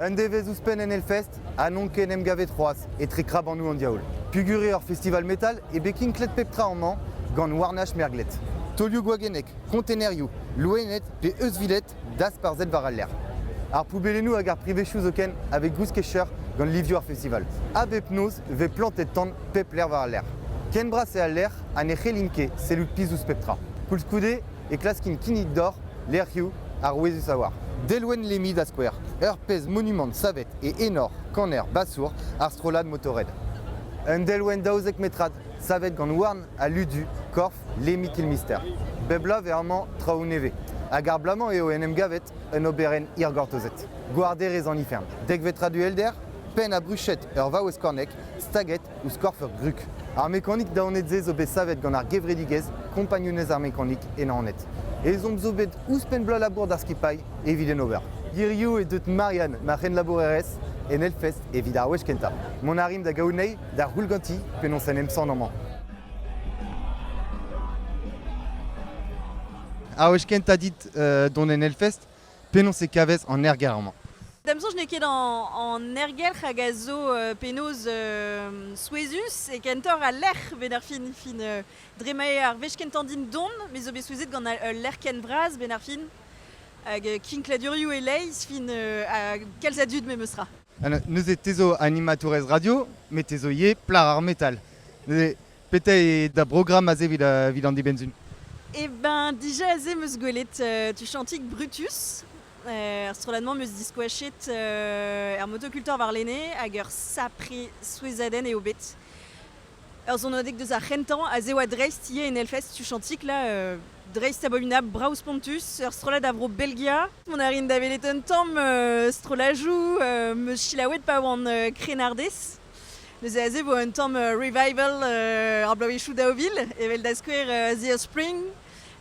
Un devezh ouzhpenn en Hellfest ha n'on ket en em gavet c'hoazh etre krabanoù an diaoul. Puguri ur festival metal eo bet kinklet pep tra amañ gant Warnash merglet. Taolioù gwagennek, kontenerioù, loened pe euzhviled dasparzhet war al lec'h. Ar poubellennoù hag ar privezhioù zoken a vez gouskecheur gant livioù ar festival. A bep noz 'vez plantet tan pep lec'h war al lec'h. Ken bras eo al lec'h ha ne c'hellint ket sellout pizh ouzh pep tra. Koulskoude e klaskint kinnig deoc'h lec'hioù arouezus a-walc'h. Delwenn Lemmy da skouer, ur pezh monumant savet e enor kaner basour ar strollad Motorhead. Un delwenn daouzek metrad savet gant houarn ha ludu korf Lemmy Kilmister. Bep bloaz eo amañ traoù nevez hag ar bloaz-mañ eo en em gavet un oberenn hirgortozet. Gouarderezh an Ifern, dekvet rad uhelder, penn ha bruched ur vaouez kornek staget ouzh korf ur grug. Ar mekanik daonet-se zo bet savet gant ar gevredigezh Kompagnunezh ar Mekanik e Naoned. Ezhomm zo bet ouzhpenn bloaz labour d'ar skipailh evit en ober. Hiriv eo deuet Marianne, ma c'henlabourerez, en Hellfest evit ar wech kentañ. Mont a rimp da gaout anezhi da c'houll ganti penaos en em sant amañ. Ar wech kentañ dit dont en Hellfest penaos e kavez an ergelc'h-mañ? D'am soñj n'eo ket an ergelc'h hag a zo penaos souezhus e kentoc'h al lec'h benn ar fin. Dre ma eo ar wech kentañ din dont, me zo bet souezhet gant ul lec'h ken vras benn ar fin hag kinkladurioù e-leizh fin ha kalz a dud memes tra. Neuze te zo animatourez radio met te zo ivez plac'h ar metal. Neuze Petra eo da brogramm aze evit an dibenn-se? Eh ben, dija aze 'meus gwelet euh, tu chantik Brutus. Euh, ar strollad-mañ 'meus diskoachet euh, er motokultor warlene hag ur sapre souezhadenn eo bet. Ur sonadeg deus ar c'hentañ a zev a-dreist ivez en Hellfest tu chantik là, euh, dreist ababinab, brav spontus, ur strollad a vro Belgia. On a rin da welet un tamm euh, strollajoù euh, 'meus selaouet pa oan euh, krennardez. Neuze aze vo un tamm revival ar bloavezhioù daou vil, evel da skouer Their Spring,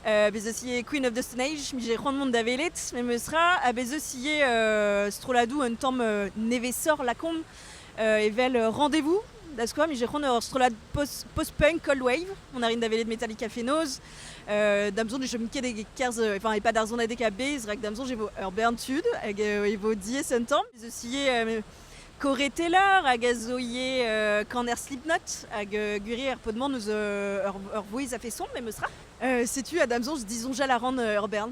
uh, bez eus ivez Queen of the Stone Age, mije c'hoant mont da welet, memes tra, ha bez eus ivez uh, strolladoù un tamm uh, nevesoc'h lakaomp uh, evel Rendez-vous, da skouer, mije c'hoant ur strollad post-punk post cold wave, on a rin da welet Metallica fenoz, uh, da mzon chom ket e-kerzh, enfin e pad ar zonadeg a bezh, rak da mzon e vo ur bern tud, hag e vo diaes un tamm. Bez eus ivez uh, Corée Taylor hag a zo ivez euh, Kaner Slipknot, hag euh, gwir ar pod-mañ neus euh, ur, ur vouezh a feson, memes ra. Euh, setu Adamson, disons Jal Aran euh, Urban.